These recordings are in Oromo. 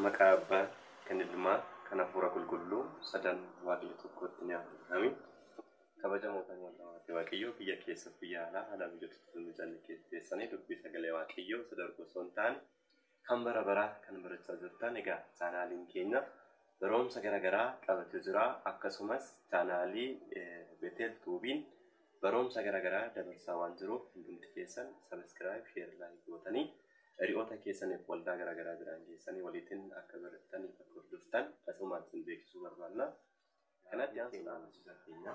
Maqaa Abbaa, kan Ilmaa, kan Hafuura Qulqulluu, sadan Waaqayyo tokkootti ni amanamii. Kabajamoo kan Waaqayyo Waaqayyo biyya keessa biyya alaa haala mijatutti mijanne keessanii dubbii sagalee Waaqayyoo isa darbu osoo hin taane Kan bara baraa kan barachaa jirtan egaa chaanaaliin keenya baroomsa gara garaa qabate jira akkasumas chaanaalii Betel Tuubiin baroomsa gara garaa dabarsaa waan jiruuf hundumti keessan sabiskiraayib sheer laayik gootanii hiriyoota keessaniif waldaa gara garaa jiraan keessanii waliitiin akka barattaniif akka hordoftan asumaan isin beeksisuu barbaanna. Kanatti aansuudhaan barsiisa keenya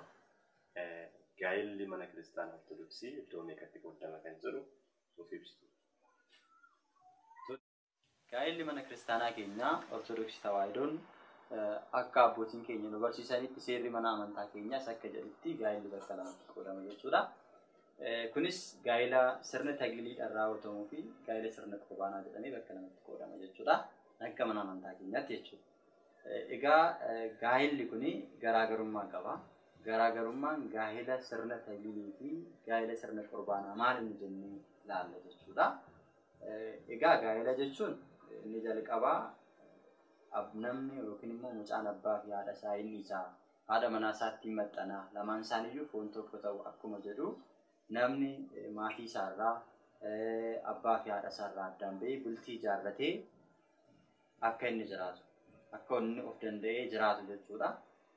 gaa'elli mana kiristaanaa ortodoksii iddoo meeqatti qoodama kan jedhu nuuf ibsitu. Gaa'elli mana kiristaanaa keenya Ortodoksii Tawaahidoon akka abbootiin keenya nu barsiisanitti seerri mana amantaa keenyaas akka jedhutti gaa'elli bakka lamatti qoodama jechuudha. Kunis gaa'ela sirna tagliidhaan raawwatamuu fi gaa'ela sirna qurbaanaa jedhamee bakka lamatti qoodama jechuudha. Akka mana amantaa keenyaatti jechuudha. Egaa gaa'illi kun garaagarummaa qaba. Garaagarummaan gaa'ila sirna tagliilii fi gaa'ila sirna qurbaanaa maal inni jennee ilaalla jechuudha. Egaa gaa'ila jechuun inni jalqabaa namni yookiin immoo mucaan abbaa fi haadha isaa inni isaa haadha manaa isaattiin maxxanaa lamaan isaaniiyyuu foon tokko ta'u akkuma jedhu namni maatii isaarraa abbaa fi haadha isaarraa addaan ba'ee bultii ijaarratee akka inni jiraatu, akka inni of danda'ee jiraatu jechuudha.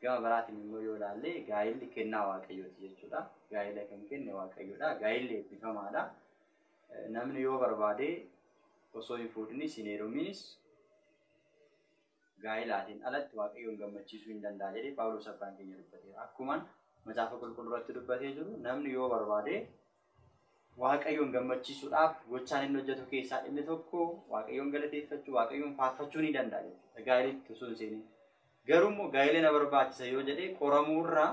Gama biraatiin immoo yoo ilaalle gaa'illi kennaa Waaqayyooti jechuudha. Gaa'ila kan kenne Waaqayyoodha. Gaa'illi eebbifamaadha. Namni yoo barbaade osoo hin fuudhinis hin heeruminis gaa'ilaatiin alatti Waaqayyoon gammachiisuu hin danda'a jedhee Phaawulos abbaan keenya dubbateera. Akkuman macaafa qulqulluu irratti dubbatee jiru namni yoo barbaade Waaqayyoon gammachiisuudhaaf gochaan inni hojjetu keessaa inni tokko Waaqayyoon galateeffachuu, Waaqayyoon faarfachuu ni danda'a jechuudha. Gaa'elitti osoo hin seeniin. Garuu immoo gaa'ela na barbaachisa yoo jedhee qoramuu irraa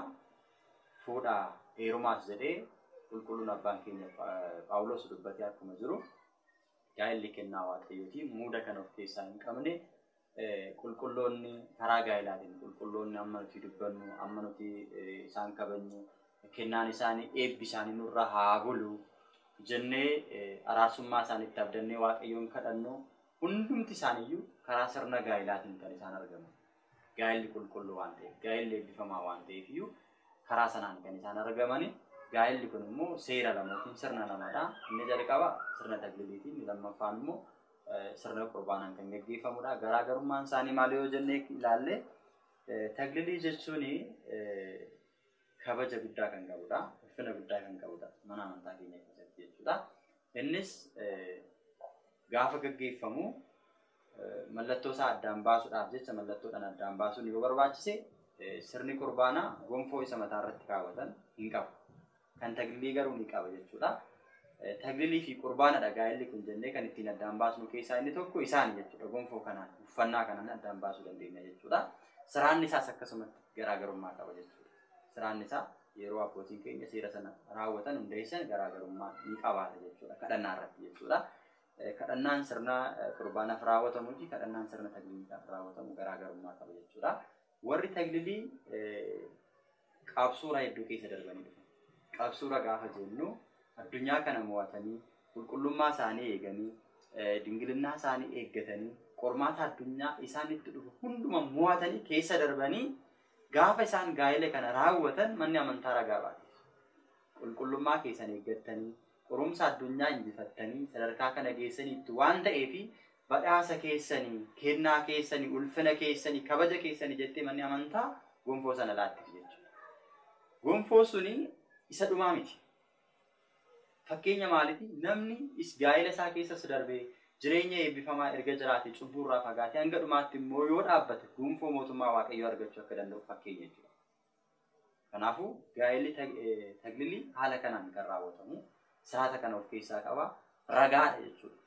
fuudhaa heerumaas jedhee qulqulluun abbaan keenya Phaawulos dubbatee akkuma jiru gaa'elli kennaa Waaqayyooti muuda kan of keessaa hin qabne Qulqulloonni karaa gaa'elaatiin qulqulloonni amma nuti dubbannu, amma nuti isaan kabajnu, kennaan isaanii, eebbi isaanii nurra haa bulu jennee araarsummaa isaanitti abdannee Waaqayyoon kadhannu hundumti isaaniiyyuu karaa sirna gaa'elaatiin kan isaan argaman. Gaa'elli qulqulluu waan ta'eef, gaa'elli eebbifamaa waan ta'eef iyyuu karaa sanaan kan isaan argamani. Gaa'elli kun immoo seera lama yookiin sirna lamadha. Inni jalqaba sirna tagliliiti, inni lammaffaan immoo sirna qurbaanaan kan gaggeeffamudha. Garaagarummaan isaanii maal yoo jennee ilaalle taglilii jechuun kabaja guddaa kan qabudha. Ulfina guddaa kan qabudha. Mana amantaa keenya keessatti jechuudha. Innis gaafa gaggeeffamu mallattoo isaa addaan baasuudhaaf jecha mallattoodhaan addaan baasuun yoo barbaachise sirni qurbaanaa gonfoo isa mataa irratti kaawwatan hin qabu. kan taglilii garuu ni qaba jechuudha. Taglilii fi qurbaanadha gaa'elli kun jennee kan ittiin addaan baasnu keessaa inni tokko isaani jechuudha. Gonfoo kanaan uffannaa kanaan addaan baasuu dandeenya jechuudha. Siraanni isaas akkasumatti garaagarummaa qaba jechuudha. Siraanni isaa yeroo abbootiin keenya seera sana raawwatan hundeessan garaagarummaa ni qabaata jechuudha. Kadhannaa irratti jechuudha. Kadhannaan sirna qurbaanaaf raawwatamu fi kadhannaan sirna tagliliidhaaf raawwatamu garaagarummaa qaba jechuudha. Warri taglilii qabsoora hedduu keessa darbanii dhufan. Qabsoora gaafa jennu addunyaa kana mo'atanii, qulqullummaa isaanii eeganii, dingilinnaa isaanii eeggatanii, qormaata addunyaa isaanitti dhufu hunduma mo'atanii keessa darbanii gaafa isaan gaa'ila kana raawwatan manni amantaa ragaa baate. Qulqullummaa keessan eeggattanii, Qorumsa addunyaa injifattanii sadarkaa kana geessaniittu waan ta'eef badhaasa keessani, kennaa keessani, ulfina keessani, kabaja keessani jettee manni amantaa gonfoo sana laattiti jechuudha. Gonfoo suni isa dhumaa miti. Fakkeenya maaliti? Namni is gaa'ila isaa keessas darbee jireenya eebbifamaa erga jiraate cubbuu irraa fagaatee hanga dhumaatti immoo yoo dhaabbate gonfoo mootummaa Waaqayyoo argachuu akka danda'u fakkeenya jechuudha. Kanaafuu gaa'elli taglilii haala kanaan kan raawwatamu siraata kana of keessaa qaba ragaadha jechuudha.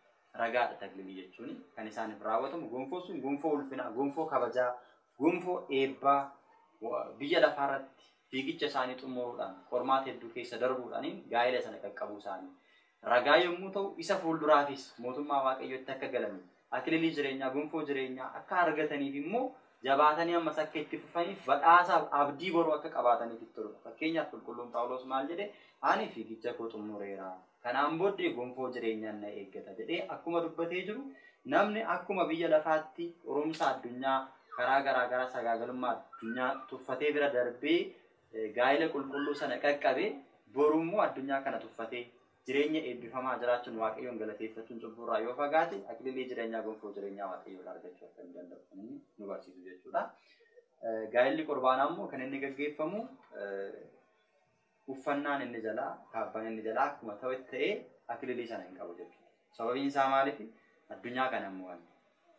Ragaadha taglilii jechuun kan isaaniif raawwatamu gonfoo sun gonfoo ulfinaa, gonfoo kabajaa, gonfoo eebbaa biyya lafaa irratti fiigicha isaanii xumuruudhaan qormaata hedduu keessa darbuudhaaniin gaa'ela sana qaqqabuu isaanii ragaa yommuu ta'u, isa fuulduraafis mootummaa Waaqayyootti akka galaniif, akililii jireenyaa, gonfoo jireenyaa akka argataniif immoo jabaatanii ammas akka itti fufaniif badhaasaaf abdii boruu akka qabaataniif itti toludha. Fakkeenyaaf qulqulluun Phaawulos maal jedhe? Ani fiigicha koo xumureera. Kanaan booddee gonfoo jireenyaan na eeggata jedhee akkuma dubbatee jiru namni akkuma biyya lafaatti qorumsa addunyaa karaa garaa garaa sagaagalummaa addunyaa tuffatee bira darbee gaa'ila qulqulluu sana qaqqabe, boru immoo addunyaa kana tuffatee jireenya eebbifamaa jiraachuun Waaqayyoon galateeffachuun cubbuu irraa yoo fagaate akililii jireenyaa gonfoo jireenyaa Waaqayyoo irraa argachuu akka inni danda'u kan inni nu barsiisu jechuudha. Gaa'illi qurbaanaa immoo kan inni gaggeeffamu uffannaan inni jalaa kaabbaan inni jalaa akkuma ta'etti ta'ee akililii sana hin qabu jechuudha. Sababiin isaa maaliif? Addunyaa kana hin mo'anne.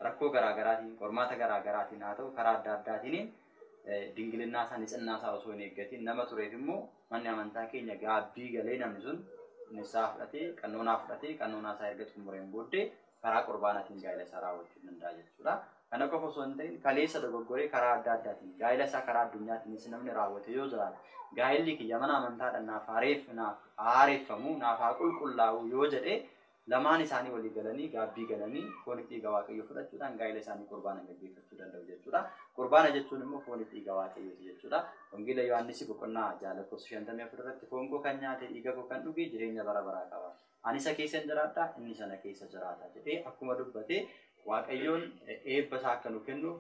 Rakkoo garaa garaatiin, qormaata garaa garaatiin haa ta'u karaa adda addaatiin dingilinnaa isaa, nitsinnaa isaa osoo hin eeggatiin nama tureef immoo manni amantaa keenya gaabbii galee namni sun nissaa fudhatee, qannoonaa fudhatee, qannoonaa isaa erga xumureen booddee karaa qurbaanaatiin gaa'ila isaa raawwachuu danda'a jechuudha. Kana qofa osoo hin ta'in kaleessa dogoggoree karaa adda addaatiin gaa'ila isaa karaa addunyaatiinis namni raawwate yoo jiraate gaa'illi kiyya mana amantaadhan naaf haa reef naaf haa haareffamuu naaf haa qulqullaa'uu yoo jedhe lamaan isaanii walii galanii gaabbii galanii fooni dhiiga waaqayyoo fudhachuudhaan gaa'ila isaanii qurbaanan gaggeeffachuu danda'u jechuudha qurbaana jechuun immoo fooni dhiiga waaqayyooti jechuudha wangeela yohaannisi boqonnaa ja'a lakkoofsa 54 irratti foon koo kan nyaate dhiiga koo kan dhuge jireenya bara baraa qaba Ani isa keessa in jiraadha, innis ana keessa jiraata jedhee akkuma dubbate Waaqayyoon eebba isaa akka nu kennuuf,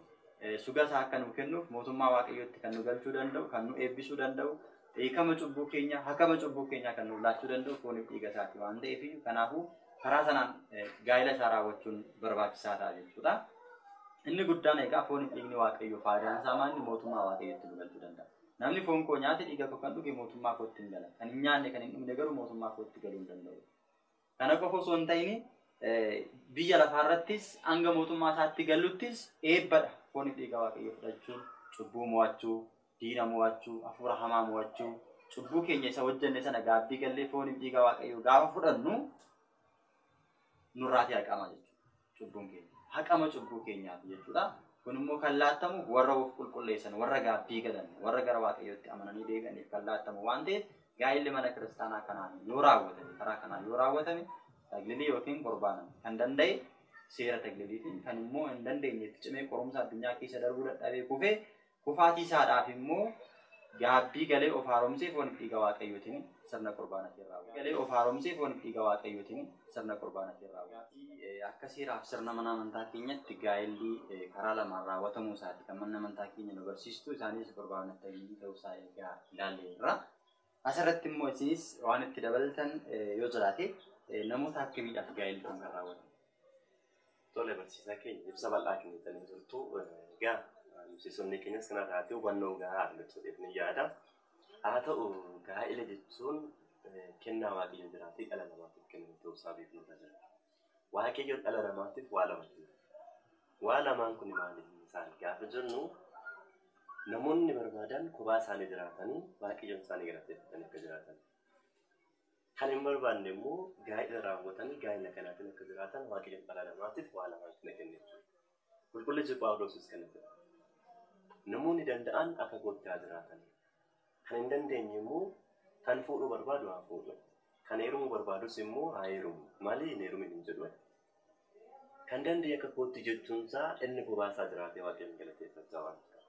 suga isaa akka nu kennuuf, mootummaa Waaqayyootti kan nu galchuu danda'u, kan nu eebbisuu danda'u, hiikama cubbuu keenyaa, hakama cubbuu keenyaa kan nuuf laachuu danda'u fooniif dhiiga isaati waan ta'eef iyyuu kanaafuu karaa sanaan gaa'ela isaa raawwachuun barbaachisaa ta'a jechuudha. Inni guddaan egaa fooniif dhiigni Waaqayyoo faayidaan isaa maal mootummaa Waaqayyootti nu galchuu danda'a. Namni foon koo nyaate dhiiga koo kan dhuge mootummaa kootti hin gala. Kan hin nyaanne kan hin dhugne garuu mootummaa kootti galuu hin danda'u. Kana qofa osoo hin ta'in biyya lafaa irrattis hanga mootummaa isaatti galuttis eebbadha. Fooniif dhiiga waaqayyoo fudhachuun cubbuu mo'achuu, diina mo'achuu, hafuura hamaa mo'achuu, cubbuu keenya isa hojjenne sana gaabbii gallee fooniif dhiiga waaqayyoo gaafa fudhannu nurraatii haqamaa jechuudha. cubbuun keenya haqama cubbuu keenyaati jechuudha. Kun immoo kan laattamuuf warra of qulqulleessan, warra gaabbii galan, warra gara Waaqayyootti amananii deebi'aniif kan laattamu waan ta'eef gaa'illi mana kiristaanaa kanaan yoo raawwatame, karaa kanaan yoo raawwatame taglilii yookiin qurbaana kan danda'e seera tagliliitiin kan immoo hin dandeenye itti cimee qorumsa addunyaa keessa darbuu dadhabee kufee Kufaatii isaadhaaf immoo gaabbii galee of haaromsee fooniif dhiiga Waaqayyootiin sirna qurbaanatiin raawwata. galee of haaromsee fooniif dhiiga Waaqayyootiin sirna qurbaanatiin raawwata. Akka seeraaf sirna mana amantaa keenyatti gaa'elli karaa lamaan raawwatamuu isaati kan manni amantaa keenya nu barsiistu. Isaanis qurbaana ittayiyyii ta'uu isaa egaa ilaalleerra. Asirratti immoo isinis waan itti dabaltan yoo jiraate namoota akkamiidhaaf gaa'elli kun kan raawwatamu? Tole barsiisaa keenya ibsa bal'aa kennitanii jirtu. Egaa barsiisonni keenyas kanarraati hubannoo gahaa argatu jedhee ni yaada. Haa ta'u gaa'ela jechuun kennaa waaqayyo biraati dhala namaatiif kenname ta'uu isaa beeknu irra jira. Waaqayyo dhala namaatiif waa lama kenne. Waa lamaan kun maali isaan gaafa jennu namoonni barbaadan kophaa isaanii jiraatanii waaqayyoon isaanii galateeffatanii akka jiraatan. Kan hin barbaanne immoo gaa'ila raawwatanii gaa'ila kanaatiin akka jiraatan waaqayyoon dhala namaatiif waa lamaan kana kenne jechuudha. Qulqullichi Phaawuloosis kana jedha, Namoonni danda'an akka kootti haa jiraatan, kan hin dandeenye immoo kan fuudhuu barbaadu haa fuudhu, kan heerumuu barbaadus immoo haa heerumu malee hin heerumin hin jedhu. Kan danda'e akka kootti jechuunsaa inni kophaasaa jiraatee Waaqayyoon galateeffachaa waan tureef.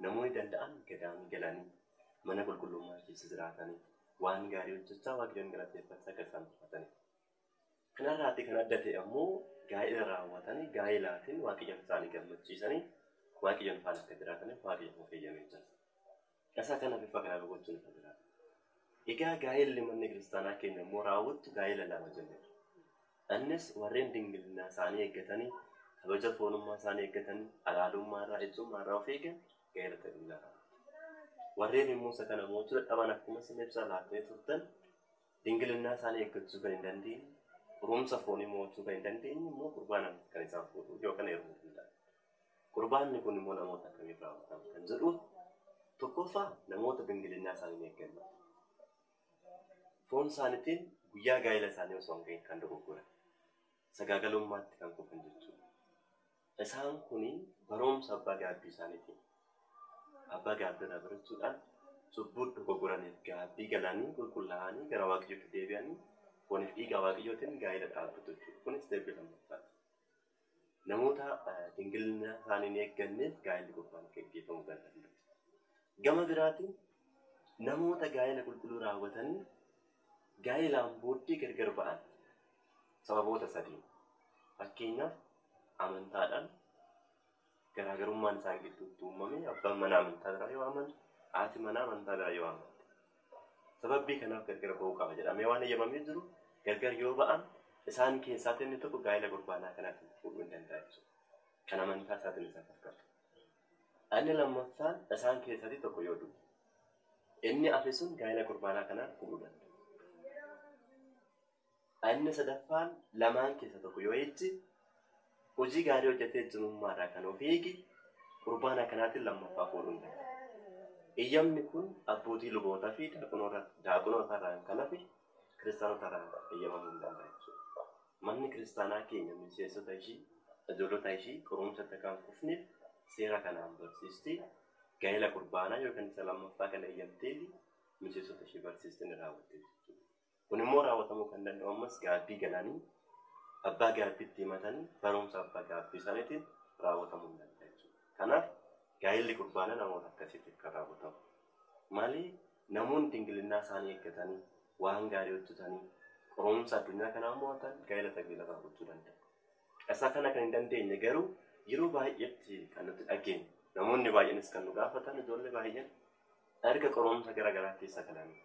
Namoonni danda'an gadaamii galanii mana qulqullummaa keessa jiraatanii waan gaarii hojjechaa Waaqayyoon galateeffachaa akka isaan jiraataniif. Kanarraatti kan adda ta'e ammoo gaa'ila raawwatanii gaa'ilaatiin Waaqayyoon isaanii gammachiisanii Waaqayyoon faana akka jiraataniif Waaqayyo immoo feeyyamee jira. Isa kana bifa kanaan hubachuun irra jira. Egaa gaa'illi manni kiristaanaa keenya immoo raawwattu gaa'ila lama jennudha. Innis warreen dingilinaa isaanii eeggatanii kabaja foonummaa isaanii eeggatanii alaalummaa irraa ejjummaa irraa of eegan gaa'ila tajaajilaa raawwatu. Warreen immoo isa kana mo'achuu dadhaban akkuma isin ibsa laattanii turtan Dingilinnaa isaanii eeggachuu kan hin dandeenye, xuruumsa foonii mo'achuu kan hin dandeenye immoo qurbaanaan kan isaan fuudhuuf yookaan heerumuuf hin dandeenye. Qurbaanni kun immoo namoota akkamiin raawwatama kan jedhuuf tokkoffaa namoota dingilinnaa isaanii hin eegganne. Foon isaaniitiin guyyaa gaa'ela isaanii osoo hin gahin kan dogoggoran. Sagaagalummaatti kan kufan jechuudha. Isaan kun barumsa abbaa gaabbii isaaniitiin abbaa gaabbii irraa barachuudhaan cubbuu dogoggoraniif gaabbii galanii qulqullaa'anii gara Waaqayyootti deebi'anii fooniif dhiigaa Waaqayyootiin gaa'ela dhaabbatu jechuudha. Kunis step lammaffaati. Namoota dingilina isaanii hin eegganneef gaa'elli qulqullaa'aan akka gaggeeffamu kan danda'u. Gama biraatiin namoota gaa'ela qulqulluu raawwatanii Gaa'elaan booddee gargar ba'an sababoota sadiin. Fakkeenyaaf, amantaadhaan garaagarummaan isaan gidduutti uumame, abbaan manaa amantaa biraa yoo amane, haati manaa amantaa biraa yoo amante. Sababbii kanaaf gargar ba'uu qaba jedhamee waan eeyyamamee jiru gargar yoo ba'an isaan keessaatti inni tokko gaa'ela gurbaanaa kanaatiin fuudhuu hin danda'a jechuudha. Kan amantaa isaatiin isa fakkatu. Inni lammaffaan isaan keessaatti tokko yoo du'e. Inni afe sun gaa'ila qurbaanaa kanaan hudhuu danda'a. Inni sadaffaan lamaan keessa tokko yoo ejje, hojii gaarii hojjetee ejjumummaa irraa kan of eege, qurbaana kanaatiin lammaffaa fuudhuu hin danda'u. Eyyamni kun abbootii lubootaa fi daaqonootaa irraan kan hafe kiristaanota irraan eyyamamuu hin danda'u jechuudha. Manni kiristaanaa keenya miseensota ishii, ijoollota ishii qorumsatti akka hin kufneef seera kanaan barsiisti. gaa'ela kurbaanaa yookiin isa lammaffaa kana eeyyamtee fi miseensota ishee barsiiste ni raawwatte jechuudha. Kun immoo raawwatamuu kan danda'u ammas gaabbii galanii abbaa gaabbiitti himatanii barumsa abbaa gaabbii isaaniitiin raawwatamuu hin danda'a jechuudha. Kanaaf gaa'elli kurbaanaa namoota akkasiitiif kan raawwatamu. Malee namoonni dingilinnaa isaanii eeggatanii waan gaarii hojjetanii qorumsa addunyaa kanaa mo'atan gaa'ela taggeelarraa gochuu danda'u. Caqasa kana kan hin dandeenye garuu yeroo baay'eetti kan nuti dhageenyu namoonni baay'eenis kan nu gaafatan ijoollee baay'een erga qorumsa gara garaa keessa galanii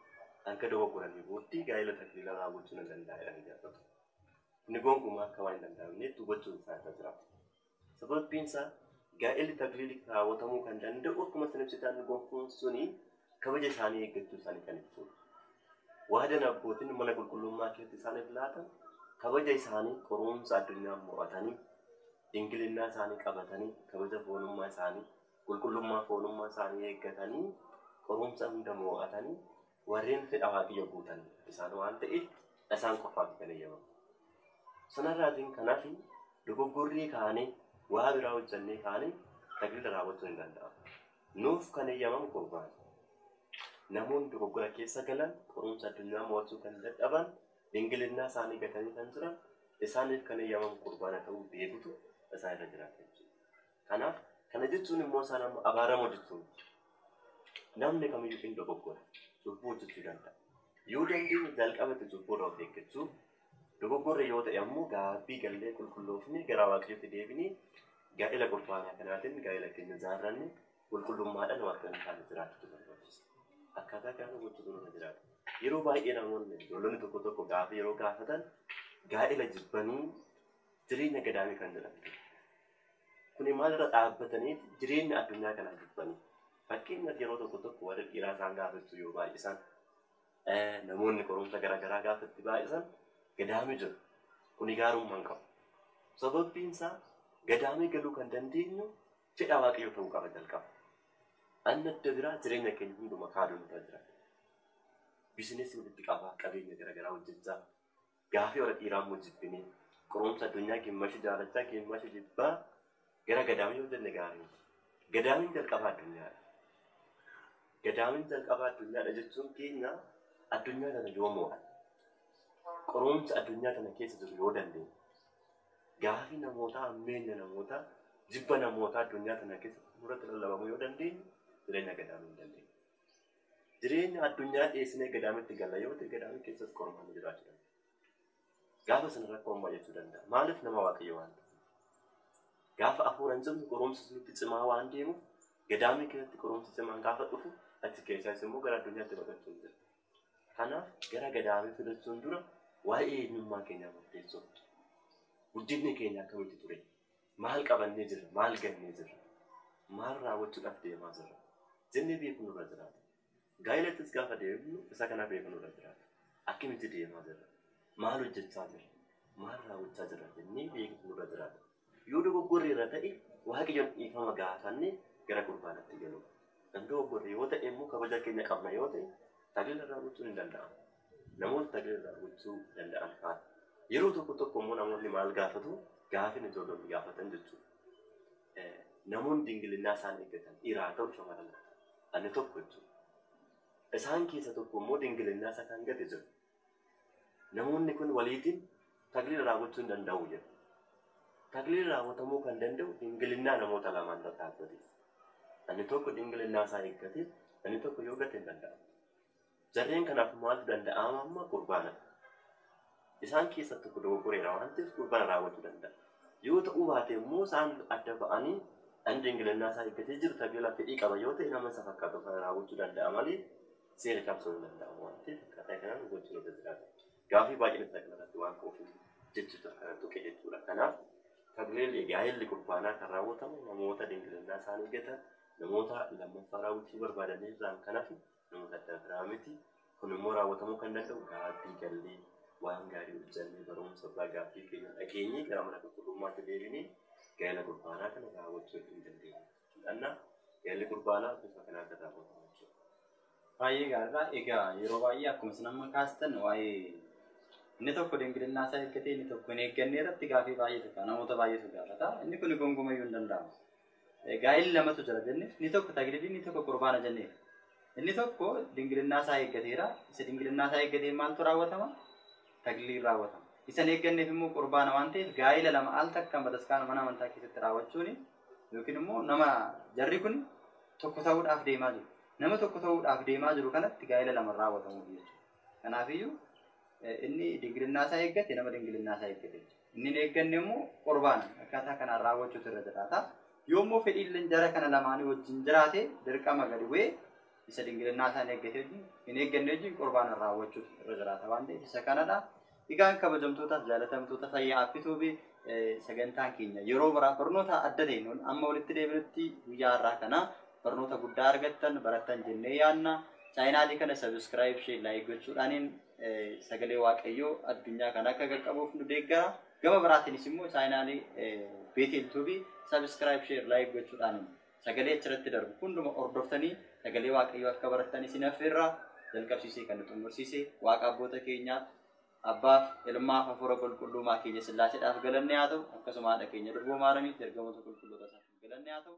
erga dogoggoranii booddee gaa'ela takliila raawwachuu nan danda'a jedhanii gaafatu. Inni gonkumaa akka waan hin danda'amneetti hubachuun isaa irra jiraata. Sababbiin isaa gaa'elli takliili raawwatamuu kan danda'u akkuma isin ibsitan gonkuun suni kabaja isaanii eeggachuu isaanii kan ibsuudha. Waadan abbootiin mana qulqullummaa keessatti isaaniif laatan kabaja isaanii qorumsa addunyaa mo'atanii dingilinnaa isaanii qabatanii kabaja foonummaa isaanii qulqullummaa foonummaa isaanii eeggatanii qorumsa hunda mo'atanii warreen fedha waaqayyo guutan isaan waan ta'eef isaan qofaati kan eeyyamamu. Sanarraatiin kanaaf dogoggorrii kaanee waa biraa hojjannee kaanee tajaajila raawwachuun hin danda'amu. Nuuf kan heyyamamu gurbaan. Namoonni dogoggora keessa galan, qorumsa addunyaa mo'achuu kan dadhaban, dingilinnaa isaanii gatanii kan jiran, isaaniif kan heyyamamu qurbaana ta'uu beekutu isaan irra jiraata jechuudha. Kanaaf kana jechuun immoo isaan amma abaaramoo jechuu miti. Namni kamiyyuu in dogoggora, cubbuu hojjechuu danda'a. Yoo dandeenye jalqaba itti cubbuurraa of eeggachuu, Dogoggorre yoo ta'e ammoo gaabbii gallee qulqulloofnee gara Waaqayyootti deebinee gaa'ela qurbaanaa kanaatiin gaa'ela keenya ijaarrannee qulqullummaadhaan Waaqayyoon faana jiraachuutu nu barbaachisa. Akkaataa kanaan gochuutu nurra jiraata. Yeroo baay'ee namoonni ijoollonni tokko tokko gaafii yeroo gaafatan gaa'ela jibbanii jireenya gadaamii kan jedhan jiru. Kuni maalirra dhaabbataniiti jireenya addunyaa kanaa jibbanii. Fakkeenyaaf yeroo tokko tokko warri dhiiraa isaan gaafachuu yoo baay'isan Namoonni qorumsa gara garaa gaafa itti baay'isan gadaamii jiru. Kuni gaarummaa hin qabu. Sababbiin isaa gadaamii galuu kan dandeenyu fedha waaqayyoo ta'uu qaba jalqaba. Anna adda biraa jireenya keenya hunduma kaaduun irra jira. Bizinesii walitti qabaa, qabeenya gara garaa hojjechaa, Gaafii warra dhiiraa immoo jibbinee qorumsa addunyaa gimmashi jaalachaa gimmashi jibbaa gara gadaamii yoo jenne gaarii miti. Gadaamiin jalqaba addunyaadha. Gadaamiin jalqaba addunyaadha jechuun keenya addunyaa tana yoo mo'an qorumsa addunyaa tana keessa jiru yoo dandeenye gaafii namootaa ammeenya namootaa jibba namootaa addunyaa tana keessatti nurratti lallabamu yoo dandeenye jireenya gadaamii hin dandeenye. Jireenya addunyaa dhiyeessinee gadaamitti galla yoo ta'e gadaamii keessas qormaanni jiraachuu danda'a. Gaafa sana rakkoon baay'achuu danda'a. Maaliif nama waaqayyo waan ta'eef. Gaafa hafuuraan cimnu qorumsi nutti cimaa waan deemuuf gadaamii keessatti qorumsi cimaan gaafa dhufu achi keessaas immoo gara addunyaatti baqachuun jira. Kanaaf gara gadaamii filachuun dura waa'ee eenyummaa keenyaa murteessuun guddinni keenya akkamitti ture? Maal qabannee jirra? Maal gannee jirra? Maal raawwachuudhaaf deemaa jirra? jennee beekuun nurra jiraata. Gaa'ilattis gaafa deemnu isa kana beekuun nurra jiraata. Akkamitti deemaa jirra? Maal hojjechaa jirra? Maal raawwachaa jirra? jennee beekuutu nurra jiraata. Yoo dogoggorreerra ta'e Waaqayyoon dhiifama gaafannee gara qurbaanaatti galuu. Kan dogoggorre yoo ta'e immoo kabaja keenya qabna yoo ta'e tajaajila raawwachuun hin danda'amu. Namoonni tajaajila irraa gochuu danda'an faana. Yeroo tokko tokko immoo namoonni maal gaafatu? Gaafin ijoollonni gaafatan jechuudha. Namoonni dingilinnaa isaan eeggatan dhiiraa haa ta'u shamarran haa ta'u. Ani tokko jechuudha. Isaan keessa tokko immoo dingilinnaa isa kan gate jiru. Namoonni kun waliitiin tagliila irraa gochuu hin danda'u jedhu. Tagliilli raawwatamuu kan danda'u dingilinnaa namoota lamaan irra dhaabbatee. Ani tokko dingilinnaa isaa eeggatee, ani tokko yoo gate hin danda'amu. Jarreen kanaaf maaltu danda'aama amma qurbaanadha. Isaan keessaa tokko dogoggoreera waan ta'eef qurbaana raawwachuu danda'a. Yoo ta'uu baate immoo isaan adda ba'anii ani dingilannaa isaa eeggatee jiru tabeelaa fedhii qaba yoo ta'e nama isa fakkaatu faana raawwachuu danda'a malee seera cabsuun hin danda'amu waan ta'eef akkaataa kanaan gochuun irra jiraata. Gaafii baay'een ibsa kanarratti waan ka'uuf jechicha kana tuqe jechuudha. Kanaaf tabeelli gaa'elli qurbaanaa kan raawwatamu namoota dingilannaa isaanii eeggatan namoota lammaffaa raawwachuu barbaadan irraan kan hafe Nuuf addaa biraa miti. Kun immoo raawwatamuu kan danda'u gaabbii gallee, waan gaarii hojjannee, barumsa irraa gaabbii keenya dhageenyee gara mana qulqullummaatti deebinee gaa'ela qurbaanaa kana raawwachuu hin dandeenyu. Kadhannaa gaa'elli qurbaanaa bifa kanaan kan raawwatamu jechuudha. Baay'ee gaariidha. Egaa yeroo baay'ee akkuma isin amma kaastan waa'ee inni tokko dingilinnaa isaa eeggatee inni tokko hin eegganne irratti gaafii baay'eetu ka'a. Namoota baay'eetu gaafata. Inni kun gonkumayyuu hin danda'amu. Gaa'illi lamatu jira jenne. Inni tokko taglilii, inni tokko qurbaana jennee. Inni tokko dingilinnaa isaa eeggateera. Isa dingilinnaa isaa eeggateen maaltu raawwatama? Tagliliin raawwatama. Isa hin eegganneef immoo qurbaana waan ta'eef gaa'ila lama al takkaan bataskaana mana amantaa keessatti raawwachuun yookiin immoo nama jarri kun tokko ta'uudhaaf deemaa jiru. Nama tokko ta'uudhaaf deemaa jiru kanatti gaa'ila lama raawwatamuuf jechuudha. Kanaafiyyuu inni dingilinnaa isaa eeggate nama dingilinnaa isaa eeggate jechuudha. Inni hin eegganne immoo qurbaana akkaataa kanaan raawwachuutu irra jiraata. Yoo immoo fedhiilleen jara kana lamaanii wajjin jiraate dirqama gadi bu'ee isa dingilinnaa isaa hin eeggate wajjin hin eegganne wajjin qurbaana raawwachuutu irra jiraata waan ta'eef isa kanadha. Egaan kabajamtootaaf jaalatamtoota fayyaa appituubi sagantaan keenya yeroo biraa barnoota adda ta'een ol amma walitti deebinutti guyyaa har'aa kana barnoota guddaa argattan barattan jennee yaadna. Chaayinaalii kana sabiskiraayib ishee laayik gochuudhaaniin sagalee waaqayyoo addunyaa kana akka qaqqabuuf nu deeggara. Gama biraatiinis immoo chaayinaalii Beetel Tuubii sabiskiraayib sheer laayik gochuudhaan sagalee achirratti darbu hunduma hordoftanii sagalee waaqayyoo akka barattan isin affeerra jalqabsiisee kan nu xumursiise waaqa abboota keenyaa abbaaf ilmaaf hafuura qulqulluumaa keenya sillaaseedhaaf galanne haa ta'u akkasuma haadha keenya durboo maaramiitti ergamoota qulqulloota isaaf galanne haa ta'u.